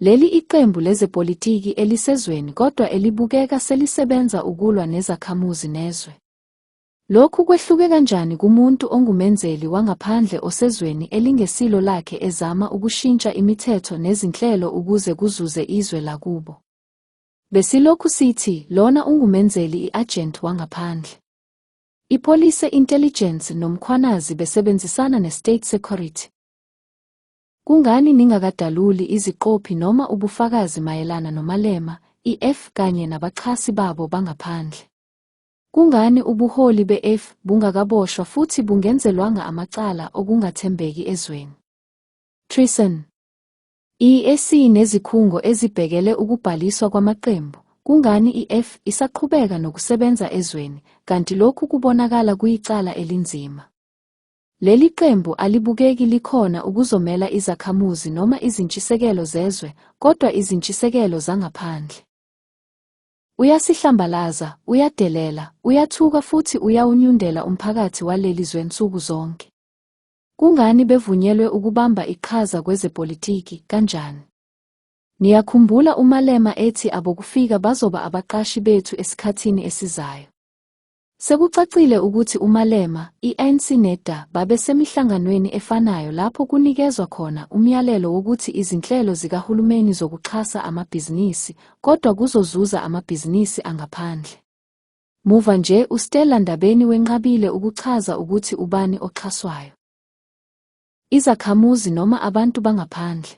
Leli iqembu lezepolitiki elisezweni kodwa elibukeka selisebenza ukulwa nezakhamuzi nezwe. Lokhu kwehluke kanjani kumuntu ongumenzeli wangaphandle osezweni elingesilo lakhe ezama ukushintsha imithetho nezinhlelo ukuze kuzuze izwe lakubo? Besilokhu sithi lona ungumenzeli i-agent wangaphandle. Ipolice, intelligence nomkhwanazi besebenzisana ne-state security. Kungani ningakadaluli iziqophi noma ubufakazi mayelana noMalema, iEff kanye nabaxhasi babo bangaphandle? Kungani ubuholi beEff bungakaboshwa futhi bungenzelwanga amacala okungathembeki ezweni? Treason. IEC nezikhungo ezibhekele ukubhaliswa kwamaqembu, kungani iEff isaqhubeka nokusebenza ezweni, kanti lokhu kubonakala kuyicala elinzima? Leli qembu alibukeki likhona ukuzomela izakhamuzi noma izintshisekelo zezwe kodwa izintshisekelo zangaphandle. Uyasihlambalaza, uyadelela, uyathuka futhi uyawunyundela umphakathi waleli zwe nsuku zonke. Kungani bevunyelwe ukubamba iqhaza kwezepolitiki, kanjani? Niyakhumbula uMalema ethi abokufika bazoba abaqashi bethu esikhathini esizayo. Sekucacile ukuthi uMalema, i-ANC neDA babesemihlanganweni efanayo lapho kunikezwa khona umyalelo wokuthi izinhlelo zikahulumeni zokuxhasa amabhizinisi kodwa kuzozuza amabhizinisi angaphandle. Muva nje uStella Ndabeni wenqabile ukuchaza ukuthi ubani oxhaswayo. Izakhamuzi noma abantu bangaphandle.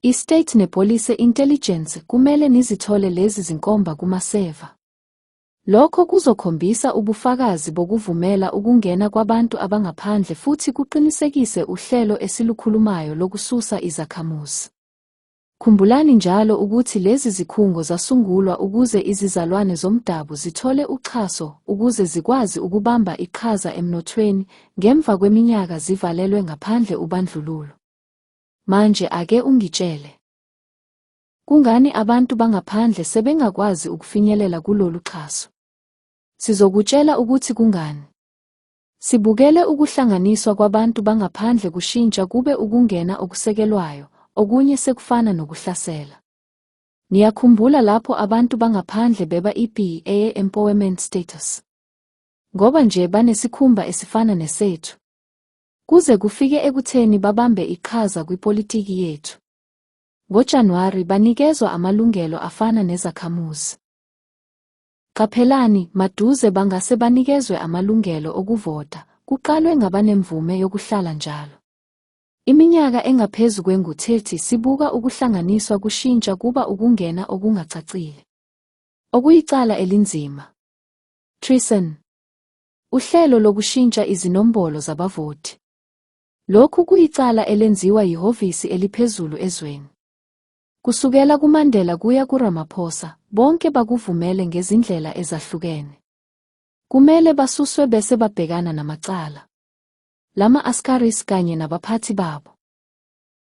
I-State nePolice Intelligence kumele nizithole lezi zinkomba kumaseva. Lokho kuzokhombisa ubufakazi bokuvumela ukungena kwabantu abangaphandle futhi kuqinisekise uhlelo esilukhulumayo lokususa izakhamuzi. Khumbulani njalo ukuthi lezi zikhungo zasungulwa ukuze izizalwane zomdabu zithole uxhaso ukuze zikwazi ukubamba iqhaza emnothweni ngemva kweminyaka zivalelwe ngaphandle ubandlululo. Manje ake ungitshele. Kungani abantu bangaphandle sebengakwazi ukufinyelela kulolu xhaso? Sizokutshela ukuthi kungani. Sibukele ukuhlanganiswa kwabantu bangaphandle kushintsha kube ukungena okusekelwayo, okunye sekufana nokuhlasela. Niyakhumbula lapho abantu bangaphandle beba i-PA empowerment status. Ngoba nje banesikhumba esifana nesethu. Kuze kufike ekutheni babambe iqhaza kwipolitiki yethu. NgoJanuwari banikezwa amalungelo afana nezakhamuzi. Qaphelani, maduze bangase banikezwe amalungelo okuvota, kuqalwe ngabanemvume yokuhlala njalo. Iminyaka engaphezu kwengu-30 sibuka ukuhlanganiswa kushintsha kuba ukungena okungacacile. Okuyicala elinzima. Treason. Uhlelo lokushintsha izinombolo zabavoti. Lokhu kuyicala elenziwa yihhovisi eliphezulu ezweni. Kusukela kuMandela kuya kuRamaphosa, bonke bakuvumele ngezindlela ezahlukene. Kumele basuswe bese babhekana namacala. Lama-askaris kanye nabaphathi babo.